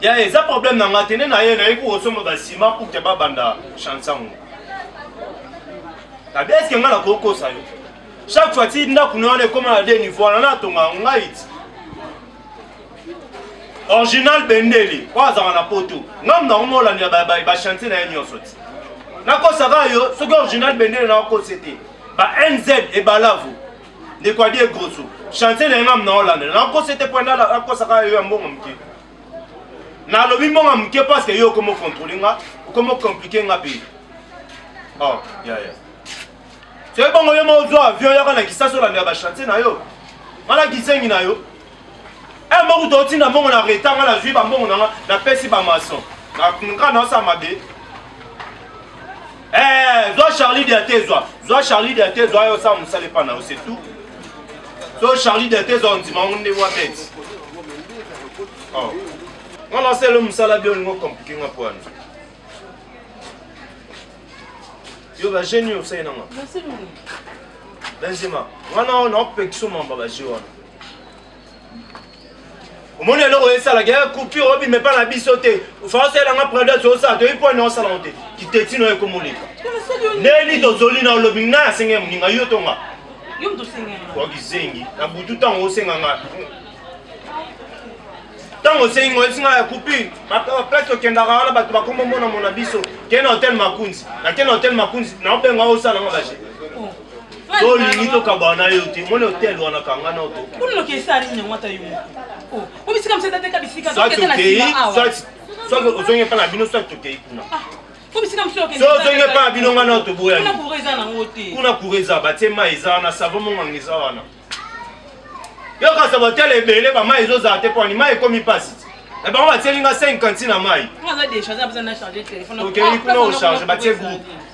ya eza problème na nga te nde na ye nayebi kosomba basima pour te babanda chansango abi eske nga nakokosa yo chaque fois ti ndako na wana ekoma na de niveau wana natonga ngai ti original bendeli oyo azalaka na poto ngai mnango molandela bachantier na ye nyonso ti nakosaka yo soki original bendeli nakokosi te ba nz ebalavu ndeko adie grosso chantier na yanga mna olanda nakosa ete pwenda nakosaka yo ya mbongo moke nalobi mbongo moke parceke yo okomo controle nga okomo complike nga mpe oh, ya ya soki bongo yo mozwa avion yaka na kisasi olandela bachantier na yo nga na kisengi na yo Eh moko to tina mbongo na retard nga nazui ba mbongo nanga na pesi ba maçon. Na kunka na sa mabe. Eh zwa Charlie de Atezwa. Zwa Charlie de Atezwa yo sa musale pa na yo c'est tout. So Charlie de Atezwa ondima onde wa bête. Oh. Nga na selo musala bi olingo compliquer nga po wana. Yo ba jeune yo sai nanga. Merci. Benzema. Wana na opekisoma mba ba jeune wana. omoni eloko esalaki ya coupure obima epa na biso te faoselanga prades osala toyebi mpo ene osalanga te kitetino ekomoleka ndeni tozoli na olobi ngai asenge moninga yo tonga wakizengi na butu ntango osenga ngai ntango osengi ngai oyebisi ngai ya coupure place tokendaka wana bato bakomomonamona biso kei na hotel makunzi nakei na hotel makunzi naobenga osalanga baje tolingi tokabana na yo te moni hotel wana kanga na otoki kuna loki esa nini yango ata yo moko oh, obisika mosata teka bisika tokete na sima awa soki ozongi epai na bino soki tokei kuna ah, ozongi epai na bino ngai na otoboyani kuna kura eza batie mai eza wana savo monganga eza wana yoka savo hotel ebele bamai ezozala te mpo ani mai ekomi mpasi eh, bango batieli nga 5 kanti na mai okei kuna ocharge batie groupe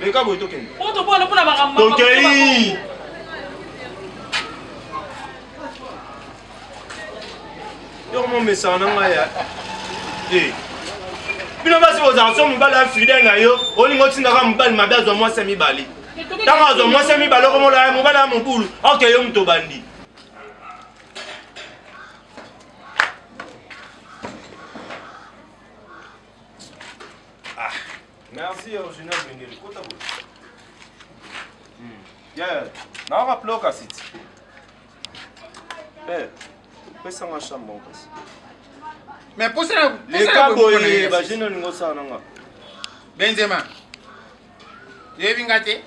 leka boye tokende tokei yoko momesana na ngai ya eh. bino basi bozala so mobali ya fidele na yo olingi otindaka mobali mabe azwa mwasi ya mibale ntango azwa mwasi ya mibale okomona mobali ya mobulu oke yo moto obandi Ah, merci original Bengele. Kota bo. Hmm. Yeah, na waka ploka siti. Eh, pesa nga chambre kasi. Mais posa na le kabo ye ba jeune ningo sa na nga. Benzema. Yebi ngate.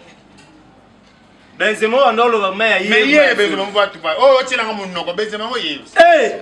Benzema wana oloba mai ya ye. Mais ye Benzema mvatu pa. Oh, otyelanga monoko Benzema ngo yebi. Eh!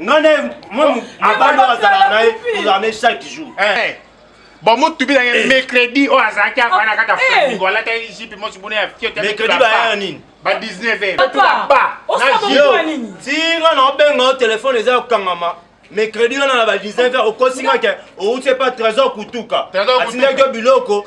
nga naye mobali oyo azalaka na ye tozala na ye chaque jour eh. bamotubi na ye eh. mercredi oyo azalaki avana kaka flamingo alataki jipe mosi buna ya fiotemercredi bayaya nini ba 19 tinga na obenga yo telefone eza ya kokangama mercredi wana na ba 19 heure okosi nga ke outi epa trésor kutuka atindaki yo biloko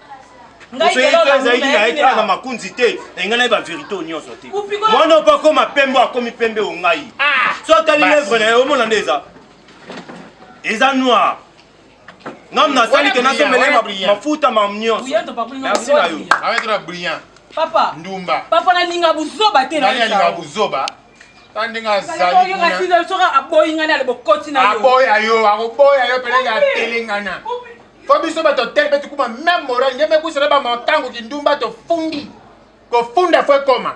ezalaki na ye tala na makunzi te na ngai na ye baverité oyo nyonso te mwana opo akoma pembe akomi pembe o ngai ah, so atali levre na ye omona nde eza eza noir ngam nasali ke nasombele mafuta mam nyonso merci na yo ndumba papa nalinga buzoba te nalinga buzoba ta ndenge azali kuna soki aboyi ngai nale bokoti na yo aboya yo akoboya yo pele ya telengana fo biso bato tele mpe tukuma meme moral nge mekwisela bamakango kindumba tofundi kofunda fo ekoma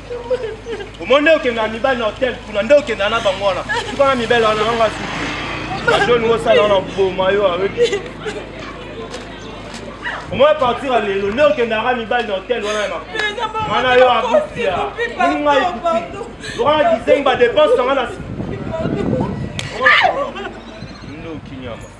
omoni nde okenda na mibali na hotel kuna nde okenda na bango wana suka na mibali wana yango asuki ajoni mosala wana boma yo ayoki omoi partir ya lelo nde okendaka mibali na hotel wana ya makolo wana yo abusia ninga ekuti lokana kizengi badepense nanga na ndoki nyama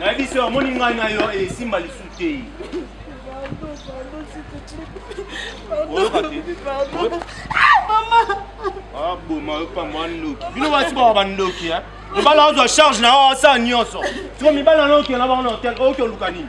nayebisi yo omoni ngai na yo esimba lisusu te aboma yo pamba bandoki bino basi baka bandoki mibali azwa charge na yo asala nyonso siko mibali anokela bango na hotel oyoki oluka nini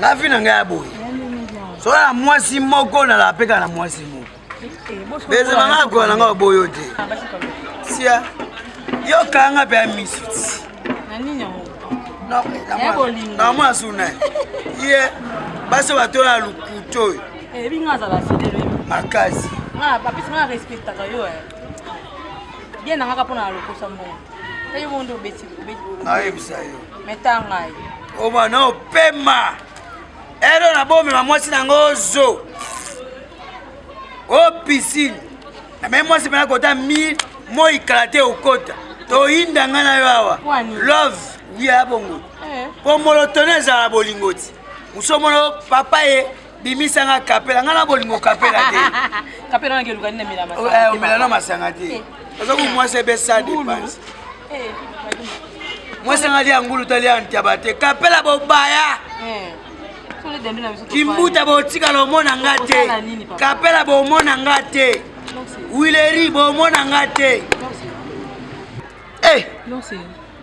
na vi na ngai ya boye soki na mwasi moko nalapeka na mwasi moko bezala ngai akola na ngai boyo te sia yokanga nga mpe ya misu na mwa suna ye basi batola lokuto oyo eh, makasi bien na nga kaka mpo na lokosa mbongo mpe yo bongo nde obeti nayebisa yo meta ngai oba na opema elo na bomema mwasi na yango ozo o pisine name mwasi mpena kota mi moi kala te okota toyinda ngai na yo awa love wiya ya bongo mpo eh. molotone ezala bolingo ti mosomono papa ye bimisa nga kapela nga na bolingo kapela te kapela na ngeluka nina mela masanga eh, omela na masanga te eh. oza ko mwasi ebesa depense eh, mwasi nga lia ngulu ta lia ntaba te kapela bobaya kimbuta botikala omona nga te kapela bomona nga te wileri bomona nga te eh.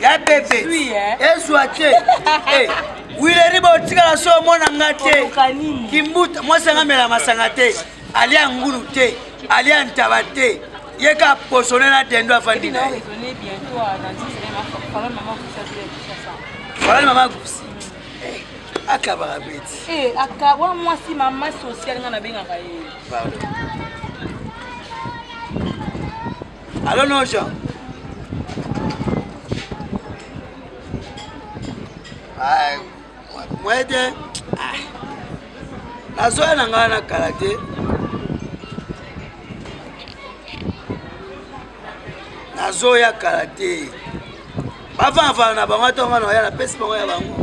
ya bebe ezwa te wileri botikala so omona nga te kimbuta mwasi anga mela masanga te alia ngulu te alia ntaba te ye ka posone na dendo afandi na ye falani mama gusi akabaka beti eh, akawa mwasi mama social nga nabengaka ye Allô non Jean. Ah, moi te. Ah. Nazoya na ngai na kala te. Nazoya kala te. Bavavana na bango ntongo na oya napesi bango ya bango.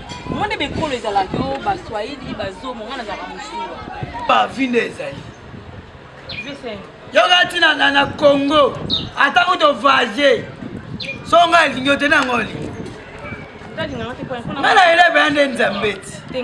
Moi nde bekolo ezalaki o baswahili bazomo ngai nazalaka mosuwa bavi nde ezali yoka ntina ngai na congo ata kuto vage so ngai elingi yo te na yango olingi ngai na eleve ya nde nzambe ti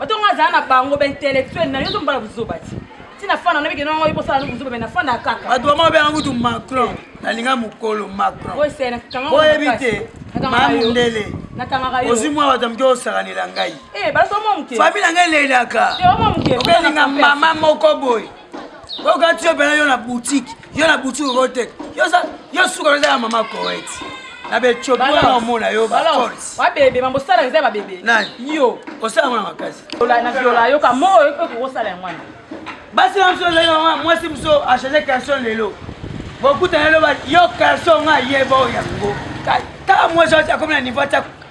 bato nga azala na bango baintellectuel na yo to mbala buzoba ti ti nafanda na mikeno yango ekosala no buzoba me nafanda kaka bato bama obenga kutu macron nalinga mokolo macron boyebi te mamundele ozwi mwa bato moke osakanela ngai eh, fami na ngai elelaka okelinga mama moko boye okati yo mpena yo na boutique yo na boutique okoteka yo suka oza ya mama coet na becopi wana omona yo babebe mambosala eza babebe yo osala yango na makasi na viola yoka mo okokosala yango wana basi na biso ezali yango mwasi biso achange calson lelo bokutana eloba yo calson nga yeba oyo yango kaka mwasi akomi na niveau atya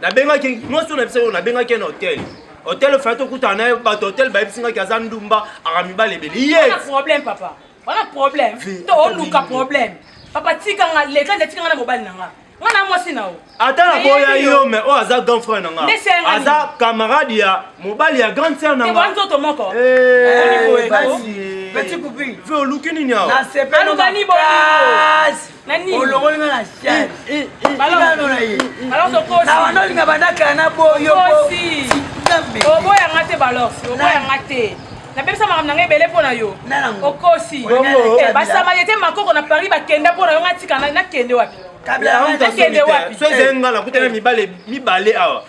nabengaki mwasi oyo nabisa oyo nabengaki ye na hotel hotel fai tokutana na ye bato hotel bayebisi ngaki aza ndumba aka mibale ebele ye problème papa wana problème to oluka problème papa tika nga leta nde tika nga na mobali na nga nga na mwasi na yo ata na boya yo me oyo aza grand frère na nga aza camarade ya mobali ya grande sœur na nga nzoto moko eh, eh, oluki nini awa olongoli nga na siawana olinga bandakala na boyooboyanga te balorsi oboyanga te napesa makambo na ngai ebele mpo na yo okosi eh, basama ye te makoko na paris bakenda mpo na yo ngai tika nakende wapi nakende wapi soezenga nakutana mibale mibale awa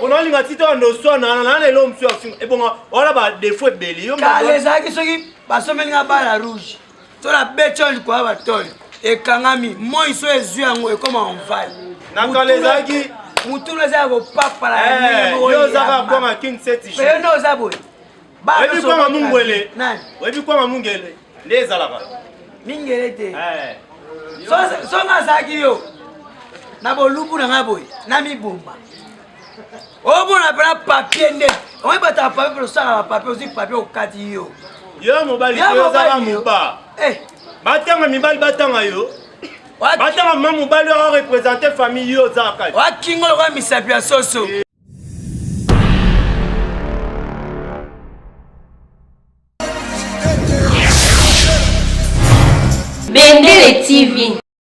pona olinga ti toyanda oswana na na eloko mosusu ya kofinga ebonga wana badefo ebele yo kala ezalaki soki basombeli nga bala rouge to na betio likoya batole ekangami moi so ezwi yango ekoma onvale na kala ezalaki motuna eza ya kopapala eh, yo ozaka kwanga king seti yo nde oza boye oyebi kwanga mungwele oyebi kwanga mungele nde ezalaka mingele te eh. so nga azalaki yo na bolubu na ngai boye namibomba omona mpena papie nde oye bato ya papie osala bapapie ozwi papie okati yo yo mobali ozala moba eh. batanga mibali batanga yo batanga ma mobali oyo represente famille yo oza kati wakingo lokola misapi ya soso eh. Bendele TV.